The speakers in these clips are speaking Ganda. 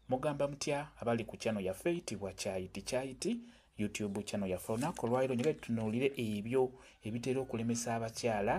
Mugamba mutya abali ku channel yaffe eyitibwa Kyayiti Kyayiti YouTube channel yaffe. Olunaku olwaliro njagala tutunuulire ebyo ebitera okulemesa abakyala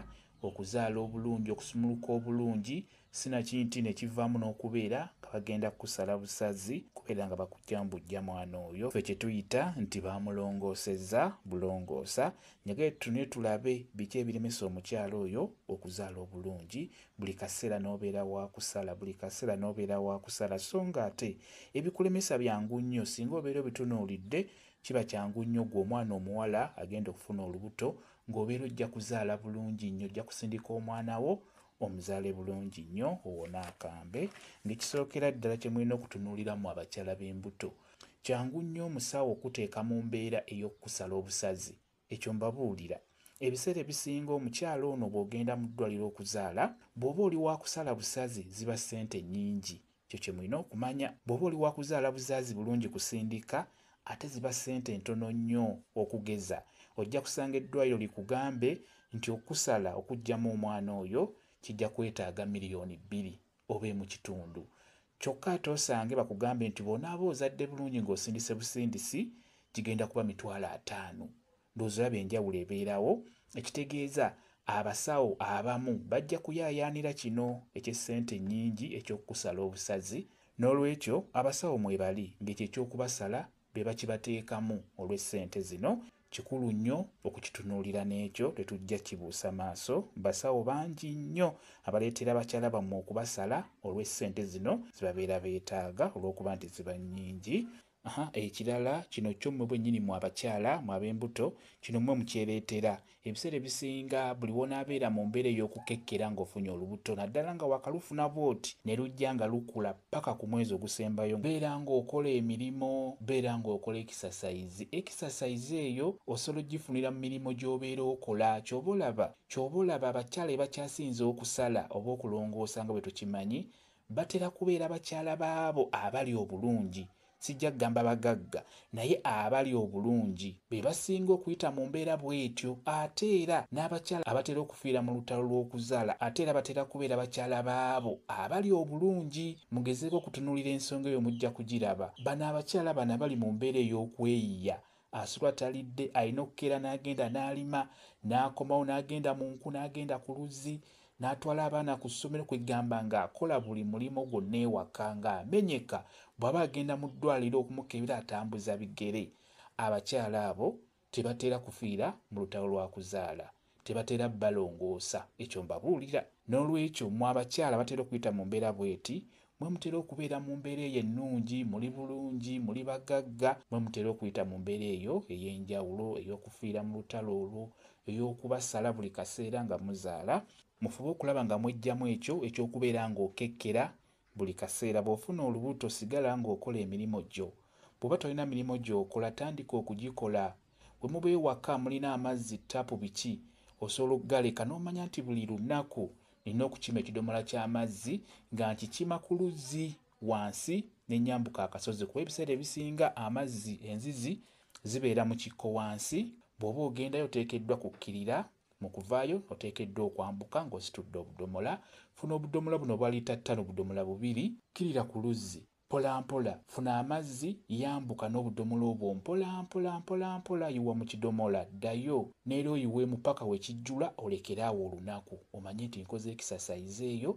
okuzaala obulungi, okusumuluka obulungi, sinakinti ne kivaamu n'okubeera nga bagenda kukusala busazi kubeera nga bakujja mu bujja mwana oyo ffe kye tuyita nti baamulongoosezza bulongoosa. Njagala tutunuulire tulabe biki ebiremesa omukyala oyo okuzaala obulungi buli kaseera n'obeera wa kusala buli kaseera n'obeera wa kusala so nga ate ebikulemesa byangu nnyo singa obeera obitunuulidde kiba kyangu nnyo gwe omwana omuwala agenda okufuna olubuto ng'obeera ojja kuzaala bulungi nnyo ojja kusindika omwana wo omuzaale bulungi nnyo owona akambe ng'ekisookera ddala kye mulina okutunuuliramu abakyala b'embuto kyangu nnyo omusawo okuteeka mu mbeera ey'okukusala obusazi Ekyo mbabuulira, ebiseera ebisinga omukyala ono bw'ogenda mu ddwaliro okuzaala, bw'oba oli wa kusala busazi ziba ssente nnyingi. Ekyo kye mulina okumanya. Bw'oba oli wa kuzaala buzaazi bulungi kusindika, ate ziba ssente ntono nnyo. Okugeza, ojja kusanga eddwaliro likugambe nti okukusala okuggyamu omwana oyo kijja kwetaaga miriyoni bbiri. obe mu kitundu kyokka ate osange bakugambye nti bw'onaaba ozadde bulungi ng'osindise busindisi kigenda kuba mitwalo ataano ndowooza olaba enjawulo ebeerawo ekitegeeza abasawo abamu bajja kuyaayaanira kino eky'essente ennyingi eky'okukusala obusazi n'olwekyo abasawo mwebali ng'ekyo eky'okubasala be bakibateekamu olw'essente zino kikulu nnyo okukitunuulira n'ekyo tetujja kkibuusa maaso. Basawo bangi nnyo abaleetera bakyala bammwe okubasala olw'essente zino ze babeera beetaaga olw'okuba nti ziba nnyingi. Aha, ekirala kino kyo mmwe bwennyini mmwe abakyala, mmwe ab'embuto, kino mmwe mukyereetera. Ebiseera ebisinga buli w'onaabeera mu mbeera ey'okukekkera ng'ofunye olubuto naddala nga waakalufuna bw'oti ne lujja nga lukula ppaka ku mwezi ogusembayo, beera ng'okola emirimu, beera ng'okola ekisasayizi. Ekisasayizi eyo osobola okugifunira mu mirimu gy'obeera okola. Ky'oba olaba, ky'oba olaba abakyala be bakyasinze okusala oba okulongoosa nga bwe tukimanyi batera kubeera bakyala b'abo abali obulungi. Sijja kugamba bagagga naye abali obulungi be basinga okuyita mu mbeera bw'etyo. Ate era n'abakyala abatera okufiira mu lutalo lw'okuzaala ate era batera kubeera bakyala b'abo abali obulungi. Mugezeeko okutunuulira ensonga eyo mujja kugiraba. Bano abakyala bana bali mu mbeera ey'okweyiya Asula talidde, alina okukeera n'agenda n'alima, n'akomawo n'agenda mu nku, n'agenda ku luzzi, n'atwala abaana ku ssomero kwe gamba ng'akola buli mulimu gwonna ewaka ng'amenyeka, bw'aba agenda mu ddwaaliro okumukebera atambuza bigere. Abakyala abo tebatera kufiira mu lutalo lwa kuzaala. Tebatera balongoosa, ekyo mbabuulira. N'olwekyo, mmwe abakyala abatera okuyita mu mbeera bw'eti, mmwe mutera okubeera mu mbeera eyo ennungi, muli bulungi, muli bagagga, mmwe mutera okuyita mu mbeera eyo ey'enjawulo, ey'okufiira mu lutalo olwo, ey'okubasala buli kaseera nga muzaala. Mufube okulaba nga mweggyamu ekyo eky'okubeera ng'okekkera Buli kaseera bw'ofuna olubuto sigala ng'okola emirimu gyo. Bw'oba tolina mirimu gy'okola tandika okugikola. Bwe muba ewaka mulina amazzi, ttaapu, biki, osobola okugaleka n'omanya nti buli lunaku nnina okukima ekidomola ky'amazzi nga nkikima ku luzzi wansi ne nnyambuka akasozi kuba ebiseera ebisinga amazzi, enzizi, zibeera mu kikko wansi, bw'oba ogendayo oteekeddwa kukkirira Mu kuvaayo, oteekeddwa okwambuka ng'ositudde obudomola. Funa obudomola buno obwa liita ttaano budomola bubiri. Kkirira ku luzzi mpolampola. Funa amazzi, yambuka n'obudomola obwo mpolampola, mpolampola. Yiwa mu kidomola. Ddayo n'era oyiwemu paka we kijjula olekere awo olunaku. Omanye nti nkoze ekisasaizi eyo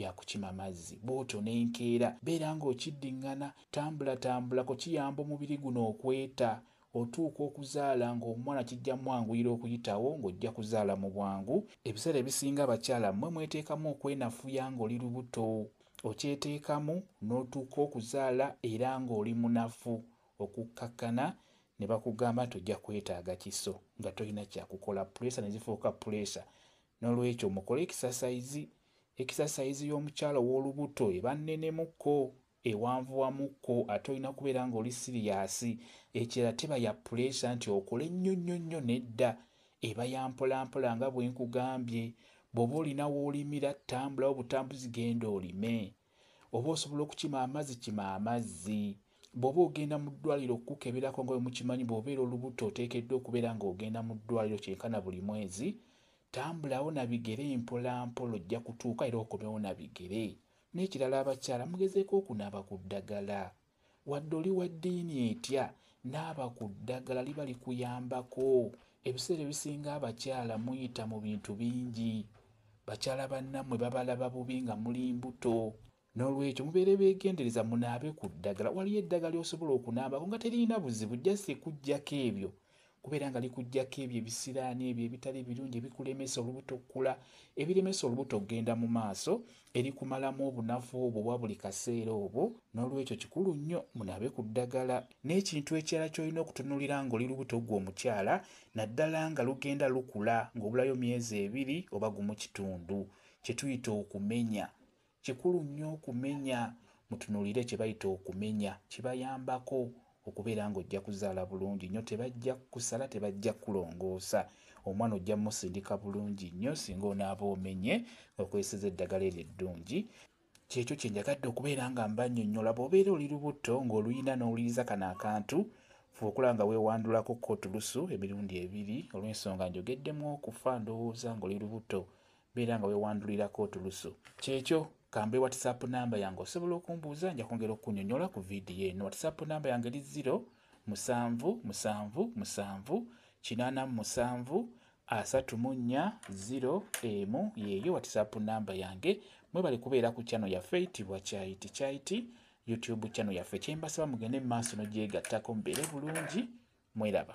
ya kukima mazzi. Bw'otyo n'enkeera beera ng'okiddingana. Tambulatambulako kiyamba omubiri guno okweta. Otuuka okuzaala ng'omwana kijja mwanguyira okuyitawo ng'ojja kuzaala mu bwangu. Ebiseera ebisinga abakyala mmwe mweteekamu okwenafuya ng'oli lubuto. Okyeteekamu n'otuuka okuzaala era ng'oli munafu okukkakkana ne bakugamba nti ojja kwetaaga kiso nga tolina kyakukola puleesa ne zifuuka puleesa. Noolwekyo mukole ekisasayizi. Ekisasayizi y'omukyala ow'olubuto eba nnenemu ko ewanvuwamu ko ate olina kubeera nga oli siriyaasi ekirala teba ya puleesa nti okole nnyo nnyo nnyo nedda eba ya mpolampola nga bwe nkugambye bw'oba olina w'olimira tambulawo butambuzi genda olime oba osobola okukima amazzi kima amazzi bw'oba ogenda mu ddwaliro okukukeberako nga bwe mukimanyi bw'obeera olubuto oteekeddwa okubeera ng'ogenda mu ddwaliro kyenkana buli mwezi tambulawo na bigere mpolampola ojja kutuuka era okomewo na bigere N'ekirala abakyala mugezeeko okunaaba ku ddagala. Wadde oli wa ddiini etya, naaba ku ddagala liba likuyambako. Ebiseera ebisinga abakyala muyita mu bintu bingi. Bakyala bannammwe babalaba bubi nga muli mbuto. Noolwekyo mubeere beegendereza munaabe ku ddagala. Waliyo eddagala ly'osobola okunaabako nga teririna buzibu just kuggyako ebyo kubeera nga likuggyako ebyo ebisiraani ebyo ebitali birungi ebikulemesa olubuto okukula ebiremesa olubuto okugenda mu maaso erikumalamu obunafu obwo obwa buli kaseera obwo n'olwekyo kikulu nnyo munaabe ku ddagala n'ekintu ekirala ky'olina okutunuulira ng'oli lubuto gwe omukyala naddala nga lugenda lukula ng'obulayo myezi ebiri oba gumu kitundu kye tuyita okumenya Kikulu nnyo okumenya. Mutunuulire kye bayita okumenya. Kibayambako okubeera ng'ojja kuzaala bulungi nnyo. Tebajja kukusala, tebajja kukulongoosa. Omwana ojja musindika bulungi nnyo singa onaaba omenye nga okozeseza eddagala eryo eddungi. Kyekyo kye njagadde okubeera nga mbannyonnyola. Bw'obeera oli lubuto ng'oluyina n'owuliriza kano akantu, fuba okulaba nga weewandulako ko tulusu emirundi ebiri. Olw'ensonga njogeddemu okufa, ndowooza ng'oli lubuto Beera nga wewandulirako otulusu. Kyekyo. Kambe WhatsApp namba yange osobola okumbuuza nja kwongera okukunyonyola ku vidiyo eno. WhatsApp namba yange li 0 musanvu musanvu musanvu kinaana mu musanvu asatu mu nnya ziro emu yeeyo watisaapu namba yange mwebale kubeera ku kyano yaffe itibwa kyayiti kyayiti youtube kyano yaffe kyembasaba mugende mu maaso nogyegattako mubeere bulungi mweraba